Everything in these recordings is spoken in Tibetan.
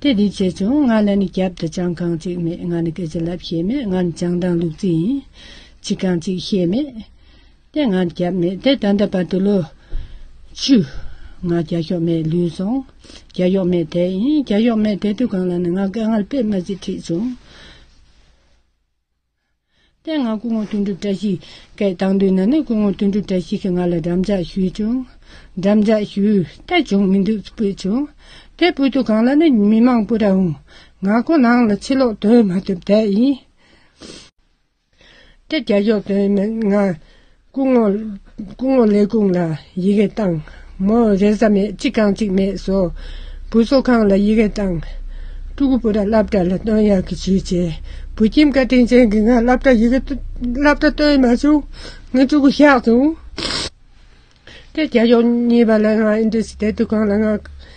དེ་དེ་བྱས་བྱུང་ང་ལ་ནི་རྒྱབ་ཏུ་ཅང་ཁང་གཅིག་མེད་ང་ནི་སྐད་ཅིག་ལབ་ཤེས་མེད་ང་ནི་ཅང་དང་ལུག་རྫི་ཡིན་ཅི་གང་གཅིག་ཤེས་མེད། དེ་ང་རྒྱབ་མེད་དེ་ད་ལྟ་བར་དུ་ལོ། བཅུ། ང་རྒྱ་གཞོག་མེད་ལུས་སོང། རྒྱ་གཞོག་མེད་དེ་ཡིན་རྒྱ་གཞོག་མེད་དེ་དུས་གང་ལ་ནི་ང་སྐད་ངར་པས་མ་གཅིག་ཁྲིད་བྱུང། ལྟས་ངག་སྐུ་ངོ་དོན་གྲུབ་བཀྲ་ཤིས་ཀས་བཏང་དུས་ན་ནས་སྐུ་ངོ་དོན་གྲུབ་བཀྲ་ཤིས་ཀྱིས་ང་ལ་འགྲམ་ལྕག་ཞུས་བྱུང། འགྲམ་ལྕག་ཞུས་ལྟས་བྱུང་མི་འདུག་སྤུད་བྱུང། དེ་སྤུད་དུ་གང་ལ་ནི་མི་མང་པོ་ར་འུང། ང་ཁོ་ནང་ལ་ཕྱི་ལོག་དོན་མ་ཐུབ་དེ་ཡིན། དེ་རྒྱ་ཞོག་དོན་མེད་ང། སྐུ་ངོ། སྐུ་ངོ་ལས་ཁུངས་ལ་ཡི་གེ་བཏང། མོ། རེས་གཟའ་མེད་གཅིག་གང་གཅིག་མེད་བཟོ། བུ་གསོ་ཁང་ལ་ཡི་གེ་བཏང། སྤྲུལ་སྐུ་བུ་ར་བླ་བྲ་ལ་བཏོན་ཡག་གི་བྱིས་བྱས། བུ་ཁྱིམ་བཀའ་དྲིན་ཅན་གྱི་ང་བླ་བྲ་ཡི་གེ་བླ་བྲ་བཏོན་མ་བྱུང། ངས་སྤྲུལ་སྐུ་བཞག་བྱུང། དེ་རྒྱལ་ཡོངས་གཉིས་པ་ལ་ང་ཨིན་ཏུ་སི་ཐེ་ཏུ་ཁང་ལ་ང།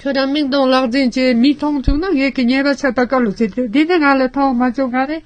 ཁྱོད་རང་མིག་མཐོང་ལག་འཛིན་བྱེད་མི་མཐོང་བྱུང་ན་ངེད་ཀྱི་ཉེས་པ་ཆད་ལྟ་ག་ལ་བྱེད་དེ་འདི་ནི་ང་ལ་མཐོང་མ་བྱུང་ག་རེད།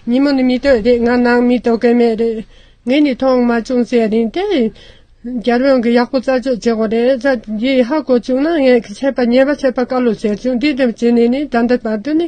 ཉིན་མོ་ནི་མི་སྟོད་རེད་ང་ནང་མི་སྟོད་གི་མེད་རེད། ངས་ནི་མཐོང་མ་བྱུང་ཟེར་རིན་ཏེ། རྒྱལ་བོན་གྱིས་ཡག་པོ་རྩད་གཅོད་བྱེད་དགོས་རེད་རྩ་འདི་ཧ་གོ་བྱུང་ན་ངེད་ཀྱི་ཆད་པ་ཉེས་པ་ཆད་པ་ག་ལ་བྱེད་བྱུང་འདི་ལྟར་བྱས་ནས་ནི་ད་ལྟ་བར་དུ་ནི་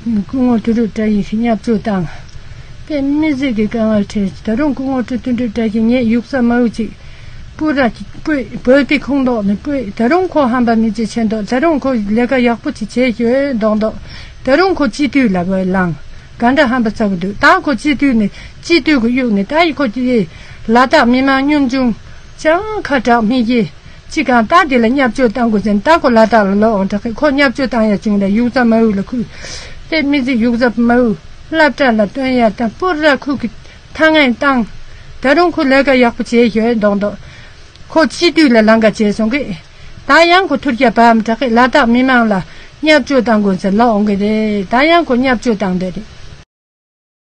སྐུ་ངོ་སྤྲུལ་སྒྲུབ་བཀྲ་ཡིས་བསྙབ་སྤྲོད་བཏང། དཔེ་མི་གཟིགས་ཀྱི་དཀའ་ངལ་འཕྲད། ད་རུང་སྐུ་ངོ་སྤྲུལ་སྟོན་སྒྲུབ་བཀྲ་ཞིག་ངེད་ཡུག་ས་མ་འུ་ཅིག། སྤུ་ར། སྤུས། བོད་ཀྱི་ཁུངས་མདོག་ནི་སྤུས། ད་རུང་ཁོ་ཧམ་པ་མི་བྱེད་ཆེ་མདོག་ད་རུང་ཁོ་ལས་ཀ་ཡག་པོ་ཅིག་བྱེད་ཞོད་མདོག་མདོག་ད་རུང་ཁོ་སྤྱི་འཐུས་ལ་བོད་ལང། ག་འདྲ་ཧམ་པ་ཚ་བོ་འདུག་ད་ཁོ་སྤྱི་འཐུས་ནས་སྤྱི་འཐུས་ཀྱི་གཡུག་ནས་ད་ཡི་ཁོ་སྤྱི། ལ་དྭགས་མི་དམངས་གཉོམ་ཆུང། ཅང་ཁ་གྲགས་མི་བྱེད། ཅི་གང་རྟགས་དེ་ལ་བསྙབ་བཅོས་བཏང་དགོས་ཟེར་ནས་རྟགས་གོ་ལ་དག་ལ་ལོག་འོང་དྲག་གི་ཁོ་བསྙབ་བཅོས་བཏང་ཡ་བྱུང་ལ་ཡུག་ཙཱ་མ་ཝུའུ་ལ་ཁུར། དེས་སྨིན་ཚིག་ཡུག་ཙཱ་མ་ཝུའུ་བསླབ་གྲྭ་ལ་བཏོན་ཡ་ཏཱ་པུར་ར་ཁུག་གི་ཐ་ངན་བཏང། ད་རུང་ཁོ་ལས་ཀ་ཡག་པོ་བྱེད་ཞོད་མདོག་མདོག། ཁོ་སྤྱི་འཐུས་ལ་ལངས་ཀ་བྱེད་སོང་གི། ད་ཡང་ཁོ་ཐུར་རྒྱབ་བབ་དྲག་གི་ལ་དྭགས་མི་མང་ལ་བསྙབ་བཅོས་བཏང་དགོས་ཟེར་ལོག་འོང་གི་རེད་ད་ཡང་ཁོ་བསྙབ་བཅོས་བཏང་འདོད་རེད།